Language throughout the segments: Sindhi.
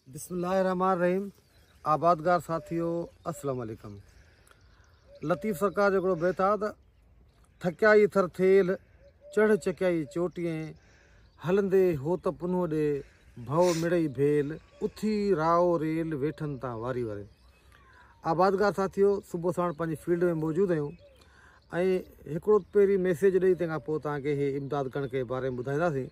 بسم الله الرحمٰن الرحيم آبادگار ساٿيو السلام عليڪم لطيف سرڪار جو هڪڙو بيت آهي ته ٿڪيائي ٿر ٿيل چڙهه چڪيائي چوٽيئين هلندي هوت پنهو ڏي ڀؤ مڙئي ڀيل اٿي رائو ريل ويٺن تان واري وري آبادگار ساٿيو صبح ساڻ پنهنجي فيلڊ ۾ موجود آهيون ۽ هڪڙو پهرين ميسيج ڏئي تنهن کان پوء تنهن کي امداد ڪرڻ جي باري ۾ ٻڌائينداسين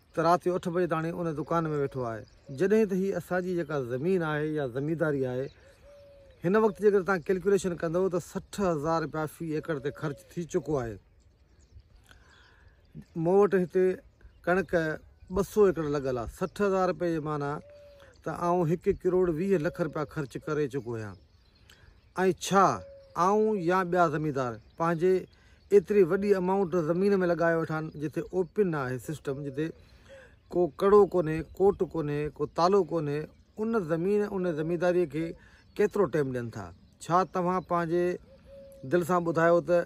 ته رات جو اٺ بجي تاڻي ان دڪان ۾ ويٺو آهي جڏهن ته هي اسان جي جيڪا زمين آهي يا زمينداري آهي هن وقت جيڪڏهن توهان ڪيلڪوليشن ڪندو ته سٺ هزار رپيا في ايڪڙ تي خرچ ٿي چڪو آهي مون وٽ هتي ڪڻڪ ٻه سو ايڪڙ لڳل آهي سٺ هزار رپيا جي معنيٰ ته آئون هڪ ڪروڙ ويهه لک رپيا خرچ ڪري چڪو آهيان ۽ ڇا آئون يا ٻيا زميندار پنهنجي ايتري وڏي امائونٽ زمين ۾ لڳايو ويٺان جتي اوپن نه آهي سسٽم جتي ڪو ڪڙو ڪونهي ڪوٽ ڪونهي ڪو تالو ڪونهي ان زمين ان زمينداري کي ڪيترو ٽيم ڏين ٿا ڇا توهان پنهنجي دل سان ٻڌايو ته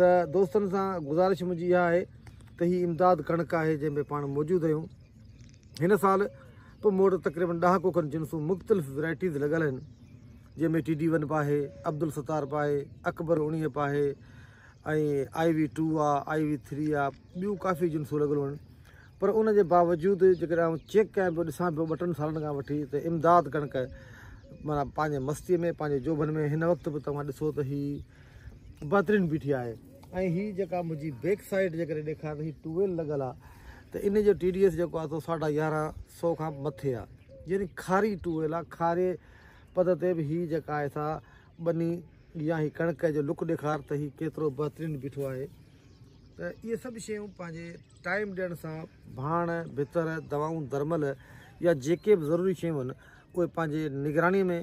ته دوستن سان گذارش منهنجي اها آهي ته هي امداد ڪڻڪ آهي جنهن ۾ پاڻ موجود آهيون هن سال پ م وٽ تقريبن ڏهاڪو کن جنسون مختلف ويرائٽيز لڳل آهن جنهن ۾ ٽي ڊي ون پ آهي عبدالستار پ آهي اڪبر اوڻيهه پ آهي ۽ I V two I V three آء ٻيون ڪافي جنسون لڳل آهن پر ان جي باوجود جيڪڏهن آئون چيڪ ڪيان پيو ڏسان پيو ٻه ٽن سالن کان وٺي ته امداد ڪڻڪ مانا پنهنجي مستي ۾ پنهنجي جوڀن ۾ هن وقت به توهان ڏسو ته هي بھترين بيٺي آھي ۽ ھي جيڪا منھنجي بيڪ سائيڊ جي ڪري ڏيکار ھي ٽيو ويل لڳل آ ته ان جو ٽي ڊي ايس جيڪو آ سو ساڍا يارنھن سئو کان مٿي آ يعني کاري ٽيو ويل آ کاري پد تي به ھي جيڪا آھي سا ٻني يا ھي ڪڻڪ جو لڪ ڏيکار ته ھي ڪيترو بھترين بيٺو آھي ته اھي سڀ شيون پنھنجي ٽائيم ڏيڻ سان ڀاڻ بھتر دوائون درمل يا جيڪي به ضروري شيون اھي پنھنجي نگراني ۾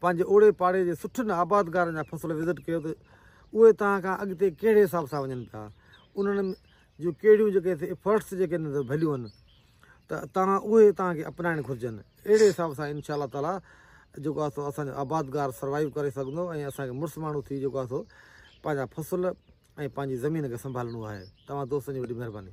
پنهنجي اوڙي پاڙي جي سٺن آبادگارن جا فصل وزٽ ڪيو ته اهي توهان کان اڳتي ڪهڙي حساب سان وڃن پيا انهن جون ڪهڙيون جيڪي ايفرٽس جيڪي انهن تي ڀليون آهن ته توهان اهي توهان کي اپنائڻ گهرجن اهڙي حساب سان انشاء الله تعالا جيڪو آهي سو اسان جو آبادگار سروائيو ڪري سگهندو ۽ اسان کي مڙس ماڻهو ٿي جيڪو آهي سو پنهنجا فصل ۽ پنهنجي زمين کي سنڀالڻو آهي توهان دوستن جي وڏي مهرباني